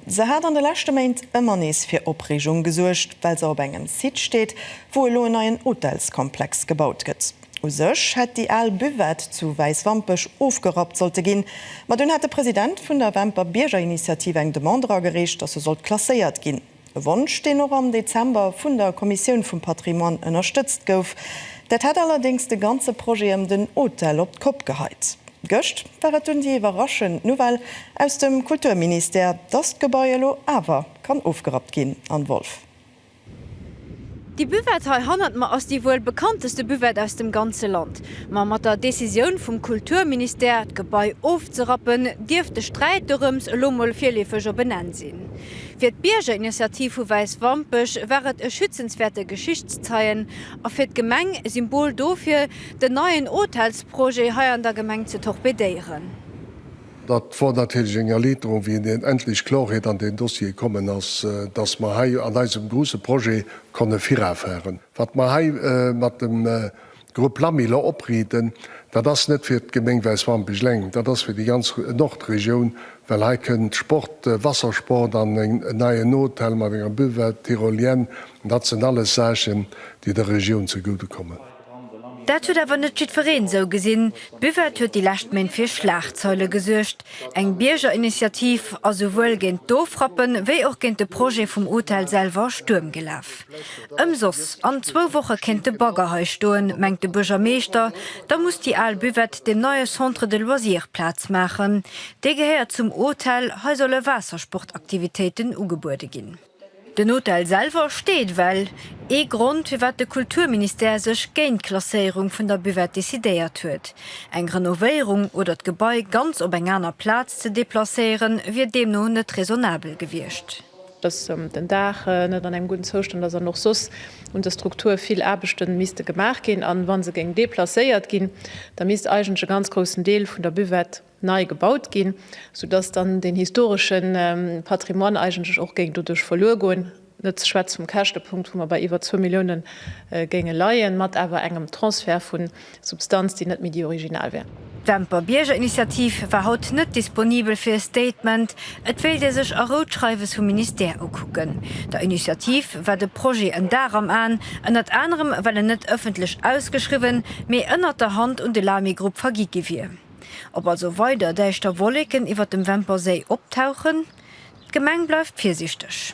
Se hat an de leschte Méint ëmmer nees fir Opreegung gesuergt, well se op engem Site steet, wou elo en neien Hotelskomplex gebaut gëtt. U sech hätt déi al Buvette zu Wäiswampech ofgerappt sollte ginn, ma dunn hat de President vun der Wämper Biergerinitiativ eng Demande eragereecht, datt se sollt klasséiert ginn. E Wonsch, deen och am Dezember vun der Kommissioun vum Patrimoine ënnerstëtzt gouf. Dat hätt allerdéngs de ganze Projet ëm den Hotel op d'Kopp geheit. Gëscht war et dunn déi iwwerraschend Nouvelle aus dem Kulturministère, dass d'Gebai elo awer kann ofgerappt ginn an Wolff. Déi Buvette hei hannert mer ass déi wuel bekannteste Buvette aus dem ganze Land. Ma mat der Decisioun vum Kulturministère, d'Gebai ofzerappen, dierft de Sträit dorëms elo mol virleefeg op en Enn sinn. Fir d'Biergerinitiativ vu Wäiswampech war et e schützenswäerte Geschichtszeien a fir d'Gemeng e Symbol dofir, Den neien Hotelsprojet hei an der Gemeng ze torpedéieren. Dat wor natierlech eng Erliiterung, wéi en endlech Klorheet an deen Dossier kommen ass, dass mer hei an eisem gruusse Projet konne virafahren. Wat mer hei mat dem Grupp Lamiller opriiden, dat ass net fir d'Gemeng Wäiswampech eleng, dat ass fir déi ganz Nordregioun, well hei kënnt Sport, Wassersport an en neien Hotel mat enger Buvette, Tyrolienne, dat sinn alles Saachen, déi der Regioun zegude kommen. Dat huet awer net jiddwereen esou gesinn. D'Buvette huet déi lescht Méint fir Schlagzeile gesuergt. Eng Biergerinitiativ ass esouwuel géint d'Ofrappe wéi och géint de Projet vum Hotel selwer Stuerm gelaf. Ëmsoss, an zwou Woche kéint de Bagger hei stoen, mengt de Buergermeeschter. Da muss déi al Buvette dem neie Centre de loisirs Plaz maachen. Dee gehéiert zum Hotel. Hei solle Waassersportaktivitéiten ugebuede ginn. Den Hotel selwer steet well, ee Grond firwat de Kulturministère sech géint d'Klasséierung vun der Buvette decidéiert huet. Eng Renovéierung oder d'Gebai ganz op eng aner Plaz ze deplacéiere wier deemno net raisonnabel gewiescht. Datt den Daach net an engem gudden Zoustand ass an och soss un der Struktur vill Aarbechte misste gemaach ginn. A wa se géing deplacéiert ginn, da misst eigentlech e ganz groussen Deel vun der Buvette, nei gebaut ginn, sou dass dann den historesche Patrimoine eigentlech och géing doduerch verluer goen, net ze schwätze vum Käschtepunkt, wou mer bei iwwer zwou Millioune géinge leien, mat awer engem Transfert vu Substanz, déi net méi déi original wär. D'Demper Biergerinitiativ war haut net disponibel fir e Statement. Et wéilt ee sech a Rou d'Schreiwes vum Ministère ukucken. Der Initiativ war de Projet en Dar am Aen, ënnert anerem well en net ëffentlech ausgeschriwwen, mee ënnert der Hand un de Lamy-Grupp vergi gi wier. Ob also weider däischter Wolleken iwwert dem Wämperséi optauchen, d'Gemeng bleift virsiichteg.